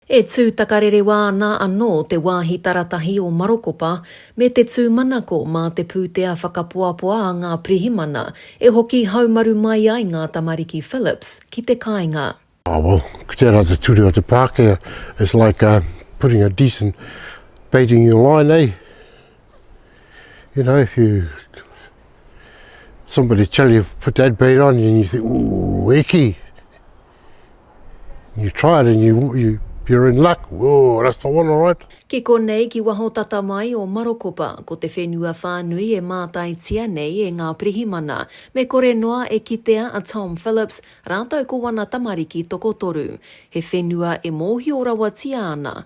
E tū takarerewa ana anō te wāhi taratahi o Marokopa me te tūmanako mā te pūtea whakapoapoa a ngā pirihimana e hoki haumaru mai ai ngā tamariki Phillips ki te kāinga. Oh well, ko tērā te ture o te Pākehā, it's like a putting a decent bait in your line, eh? You know, if you somebody tell you put that bait on you and you think, ooh, e kī! You try it and you, you, you're in luck. Whoa, that's the one, all right. Ki konei, ki waho tata mai o Marokopa, ko te whenua whānui e mātaitia nei e ngā pirihimana, me kore noa e kitea a Tom Phillips rātou ko wana tamariki tokotoru. He whenua e mōhio rawatia ana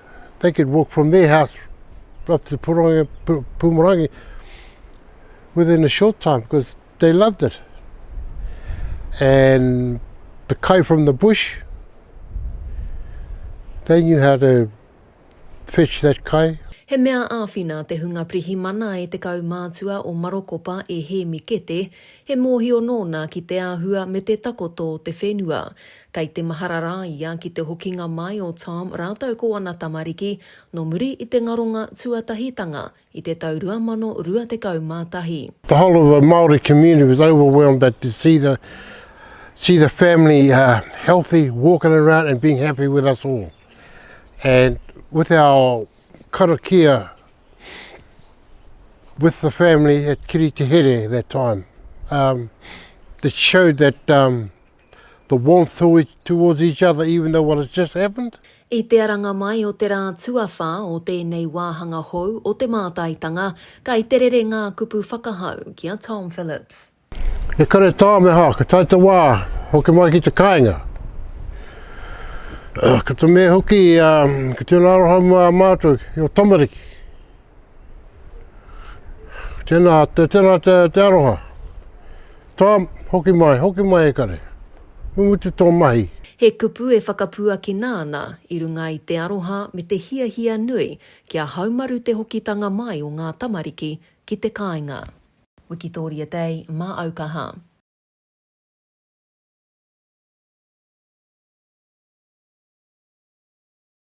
they could walk from their house up to Purongi, Pu- Pumarangi within a short time because they loved it. And the kai from the bush, they knew how to fetch that kai. He mea āwhina te hunga pirihimana e te kaumātua o Marokopa e Hēmi Kete, he mōhio nōna ki te āhua me te takoto o te whenua. Kei te mahara rā ia ki te hokinga mai o Tom rātou ko ana tamariki nō muri i te ngaronga tuatahitanga i te tau 2021. The whole of the Māori community was overwhelmed that to see the see the family healthy, walking around and being happy with us all. And with our karakia with the family at Kiritehere that time, um, it showed that um, the warmth to each, towards each other even though what has just happened. I te aranga mai o te rā tuawhā o tēnei wāhanga hou o te mātaitanga, kai te rere ngā kupu whakahau ki a Tom Phillips. He kare tāmeha, ka tae te wā, hoki mai ki te kāinga. Ko te mea hoki, ko tēnā aroha mō a mātou, your tamariki. Tēnā, tēnā te, te aroha. Tom, hoki mai, hoki mai e kare. Mu mutu tō mahi. He kupu e whakapuakina ana i runga i te aroha me te hiahia nui kia haumaru te hokitanga mai o ngā tamariki ki te kāinga. Wikitoria Day mā au kaha.